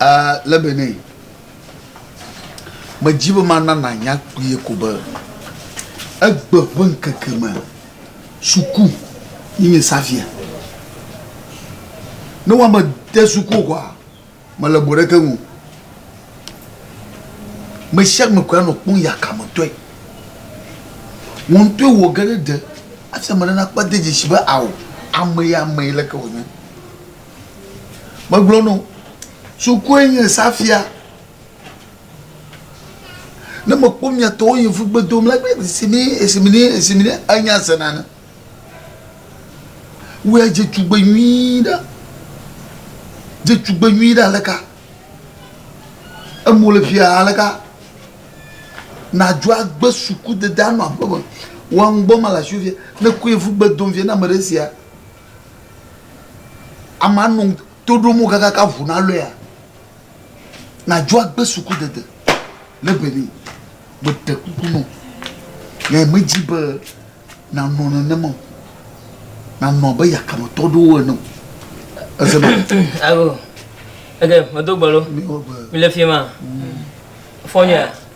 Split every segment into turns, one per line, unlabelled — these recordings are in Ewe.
Uh, le Benin, medzi be mana nanya kpuie ko be egbe ƒe ŋkeke me suku yi nye Xavier. Ne woame de suku o kɔa, mele bo ɖeke ŋu. Me sia me koe anɔ kpɔm yakametɔe. Wò ŋutɔe wɔ ge ɖe ɖe hafi ame ɖe nakpɔ ade dzesi be ao, amee amee leke wònye. Megblɔ no, sukue nye esa fia. Ne mekpɔ mia tɔwo yi fu gbe dom la, gbe esi mi esi mi ne esi mi ne enya se nane. Wua dze tugbe nyui ɖa. Dze tugbe nyui ɖa leka. Emo le fia leka. Na dua gbe suku de da no aƒe me. Wa ŋgbɔ ma la sufia. Ne ku ye fu gbe dom fia na me ɖe sia. Amea nɔ to ɖom wo kakaka ŋu nalɔea, nàdzo agbe sukudede le Benin. Meɖe kuku nɔ nɛ, medi be nànɔ nenema o, nànɔ abe yakametɔ ɖewo ene o. Eze ma. Alo,
ege medo gbe lo, mele fi ma, fɔ nyɔa.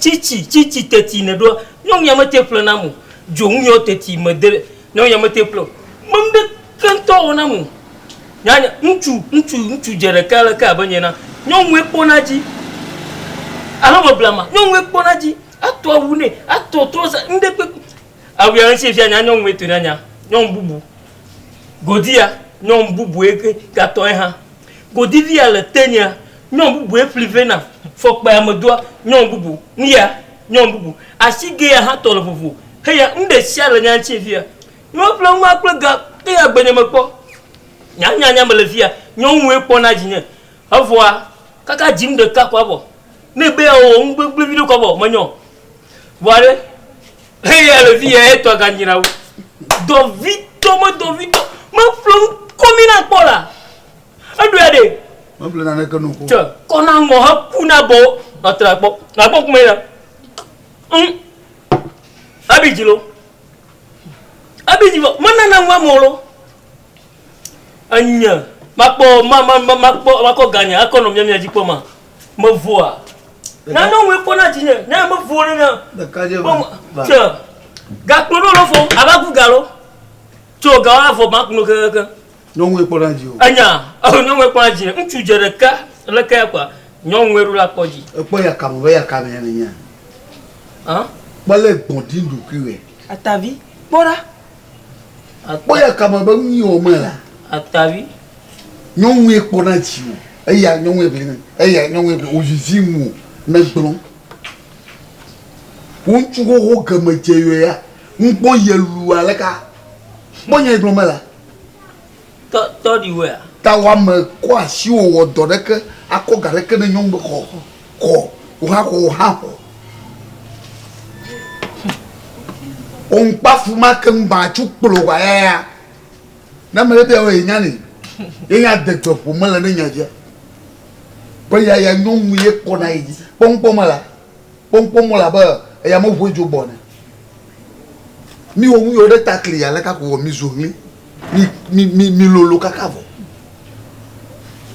Tsitsi, tsitsi teti nèɖoa? Nyɔnu ya mete ƒle nam o. Dzonu yɔ teti mede. Nyɔnu ya mete ƒle o. Me nuɖeke ŋutɔ wɔ nam o. Nyanya, ŋutsu, ŋutsu, ŋutsu dze ɖeka aleke abe nye na. Nyɔnue kpɔna edzi. Alo meblama, nyɔnue kpɔna edzi. Ato awu nɛ, ato trɔza, nuɖe kpekpe. Awu ya ŋuti fiaa nya nyɔnue tɔe nanya. Nyɔnu bubu. Godi ya, nyɔnu bubu ye ke gatɔ ye hã. Godilia le tenya, nyɔn bubue ƒli vɛ nam, fɔkpea me doa nyɔn bubu, ŋya nyɔn bubu, asigea hã tɔ le vovo, heya ŋɖesia le nya ŋtie fia. Nyɔn ƒle ŋua kple ga teya agbenye me kpɔ, nya ŋya nya mele fia, nyɔn ŋue kpɔ na dzinye, evɔa kaka dzim ɖeka ko avɔ, ne be ewɔ ŋu gbegble viɖe ko avɔ menyɔn vɔa ɖe. Eya le fi ya etɔ ganyra wo. Dɔvitɔ me dɔvitɔ me ƒle komi na kpɔ la. Eɖo ya ɖe. Me ƒle na ne ke
nuko. Tse kɔna ŋɔ he
ku na bɔ atra kpɔ. Na kpɔ kuma ya. Hm. Abi jilo. Abi jilo. Me nana ŋɔ molo. Anya. Makpɔ ma ma ma makpɔ makɔ ganya akɔ no mia mia jikpɔ ma. Mevɔa. Nane wɔe kpɔ na dzinye. Ne mevɔ ne na. Ɖekadze va. Tse. Gakplɔ ɖo lɔfɔ ava gu galo. Tso gawo avɔ ma kuno kekeke. Nyɔnue kpɔ na
dzi o. Enya. Ehe nyɔnue
kpɔ na dzi. Ŋutsu dze ɖeka le ke ya kpa. Nyɔnue ɖo la kpɔ dzi. Ekpɔ ya kame be ya
kame ya ne nya. Hã. Kpɔ le gbɔdin ɖokuiwe. Atavi
kpɔ ɖa.
Akpɔ ya kame be nu yi wɔmee la. Atavi.
Nyɔnue
kpɔna dziwò. Eya nyɔnue ʋli nɛ. Eya nyɔnue ʋli wòvivi ŋuwò ne gblɔ. Wò ŋutsu xoxo geme dze yɔya. Ŋkpɔ yelu aleka. Kpɔ nya yi gblɔ me la.
Tɔ, tɔ ɖi wɛ a? Ta wa me kɔ
asi wo wɔ dɔ ɖe ke a kɔ ga ɖe ke ne nyɔnu be xɔ, xɔ, wo hã xɔ, wo hã xɔ. O ŋkpafu ma ke ŋ ba tsu kplo wa ya ya. Na me ɖe bia wo ye nya ni. Ye nya de gbe ƒo me le ne nya dzi a. Be ya ya nyɔnu ye kpɔ na ye dzi. Kpɔ ŋkpɔ me la. Kpɔnkpɔn mɔ le abe eya me ŋue dzo gbɔ ne. Mi wɔ ŋuye ɖe ta kli ale ka ko vɔ mi zo ŋli. Mi mi mi mi lolo kaka vɔ.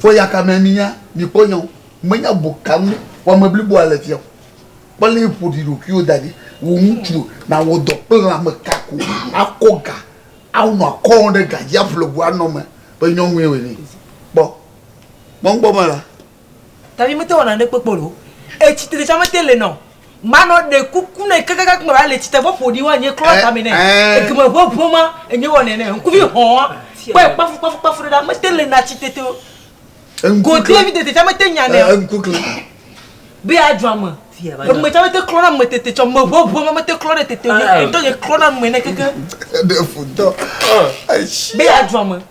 Fɔ ya ka me mi nya mi kpɔ nya o. Me nya bo ka ŋu wa me blibo ale fia o. Kpɔ le ƒo ɖi ɖo kuiwo da ɖi. Wo ŋutsu na wɔ dɔ kple la me ka ko a kɔ ga a nɔ a kɔ ɖe ga dzi a ƒle gu a nɔ me be nyɔnue wɔ ne. Kpɔ. Kpɔnkpɔn mɔ la.
Tabi mete wɔna ne kpekpe lo. Etsi te tsa mete le nɔ. Ma nɔ ɖe kuku ne kakaka kume va le tsi te vɔ ƒoɖi wa nye klɔ tame ne. Egeme ʋe ʋe ma enye wɔnɛ ne ŋkuvi hɔa kpɔe kpafu kpafu kpafu ɖe ɖa mete le na tsi te te o. Go te vi te te tsa mete nya ne o. Ŋku kle. Be ya dzɔ ame. Eme tsa mete klɔ na ame te te tsɔ me ʋe ʋe ma mete klɔ ɖe te te o. Ŋtɔ nye klɔ na ame ne keke. Ɖe fu ŋtɔ. Be ya dzɔ ame.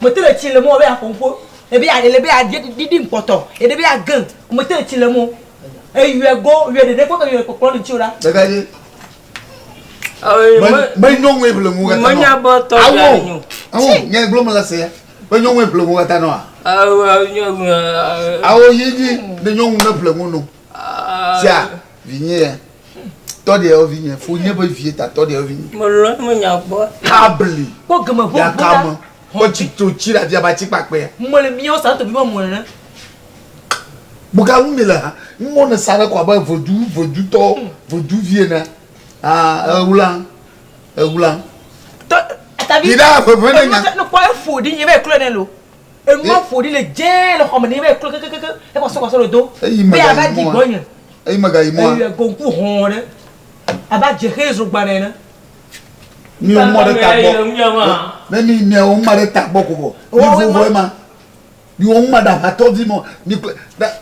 Mete ɖe tsi le mɔ be aƒo ŋƒo, ebe ya ele be ya ɖiɖi ŋkpɔtɔ, eɖe be ya gã, mete ɖe tsi le mɔ. Eyɔe go, yɔe ɖeɖe kpɔ ke yɔe kpɔkplɔ ɖe tsi o ɖa. Ɖeka dzi.
Me me nyɔ ŋue ƒle ŋu
kata nɔ. Awo,
awo, nyɛ gblɔ me la
se ya. Me nyɔ ŋue ƒle ŋu kata nɔ a.
Awo yi dzi ne nyɔ ŋu
ne ƒle ŋu nɔ. Sia, vinye ya. Tɔ ɖe evi nye fo nye be vie ta tɔ ɖe evi nye. Mo lɔ mo nya gbɔ.
Tabli. Kpɔ
gɛmɛ vo vo la. Ya
ka mo. Kpɔ
tsi to tsi la via ba tsi kpa kpɛ. Mo le miɔ sa to bi mo
mo le
ne. Boka lu mi le ha. Mo ne sa ɖe kɔ abe vodu vodu tɔ vodu vie ne. Ah ewula ewula.
Tɔ tabi. Yi da fefene nya. Ne
kpɔ efo di nye
be eklo ne lo. Enua ƒo ɖi le dzẽ le xɔme nɛ be eklo kekekeke ekɔsɔ kɔsɔ ɖodo be ava di gbɔ nye. Eyi megayi mɔa.
Eyi go ŋku hɔ̃ ɖe
abe adzexee zogban ene. Mi
wo mɔ ɖe ta gbɔ. Ne mi mia wo ŋma ɖe ta gbɔ ko vɔ. Mi vo vɔ ema. Mi wo ŋma ɖe aʋatɔ vi mɔ mi kple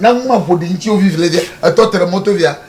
na ŋma ƒo ɖi ŋtsi wo vivi le dze etɔ te ɖe mɔto via.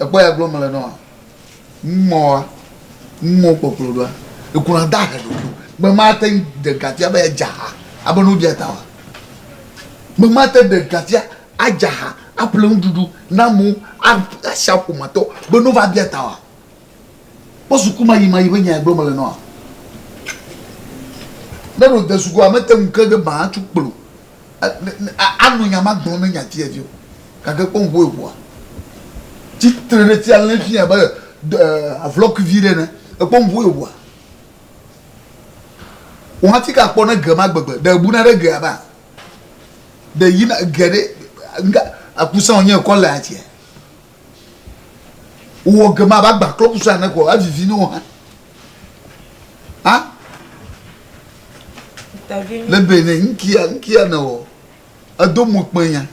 Ekpɔ
ya gblɔ mele nɔa? Mɔa, mɔ kpɔkplɔ ɖoa, ekuna da he ɖoku. Me ma te de gafia be ya jaha, abe nu dia ta wa. Me ma te de gafia ajaha, aple nu ɖuɖu, na mu, a, a sha ƒoma tɔ, be nu va bia ta wa. Kpɔ suku ma yi ma yi be nya gblɔ mele nɔa. Ne ɖo de sukua, me te ŋu ke de ba tsu kplo. Anɔ nya ma gblɔm ne nya ti evi o, gake kpɔ ŋu eŋua tsi tre ɖe ti alé fi abe avlɔk vi ɖe ne. Ekpɔ ŋu eŋua. Wò hã ti ka kpɔ ne ge ma gbegbe. Ɖe ebuna ɖe gea ba? Ɖe yina ge ɖe ŋga akusa wònye ekɔ le atia? wowɔ ge mava gba klɔ kusa ne ko evivi ne wo hã ha le bene nkia nkia ne o edo mo kpe nya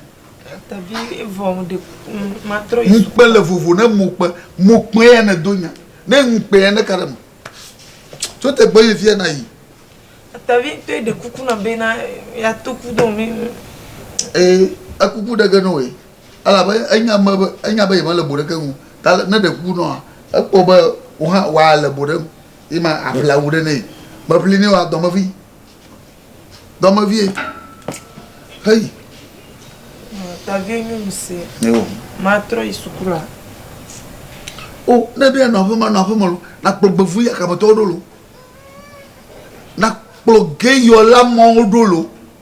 ŋukpe le vovo
ne mo kpe mo kpe ya ne do nya ne ŋukpe ya ne ka ɖe me tso te gbɔ yi fia na yi tavi
to ɖe kuku na bena ya to ku do mi ee
ekuku ɖe ge ne o ye elabe enya me be enya be yemele bo ɖeke ŋu ta ne ɖe ku nɔa ekpɔ be wohã wòale bo ɖem yi ma aƒle awu ɖe nɛ meƒli nɛ wa dɔmevi dɔmevie heyi.
Tavi nyɔnu si matrɔ
yi suku
la.
O ne ɖe nɔ aƒeme nɔ aƒeme lo nakplɔ gbevu yakametɔwo ɖo lo nakplɔ geyɔla mɔwo ɖo lo.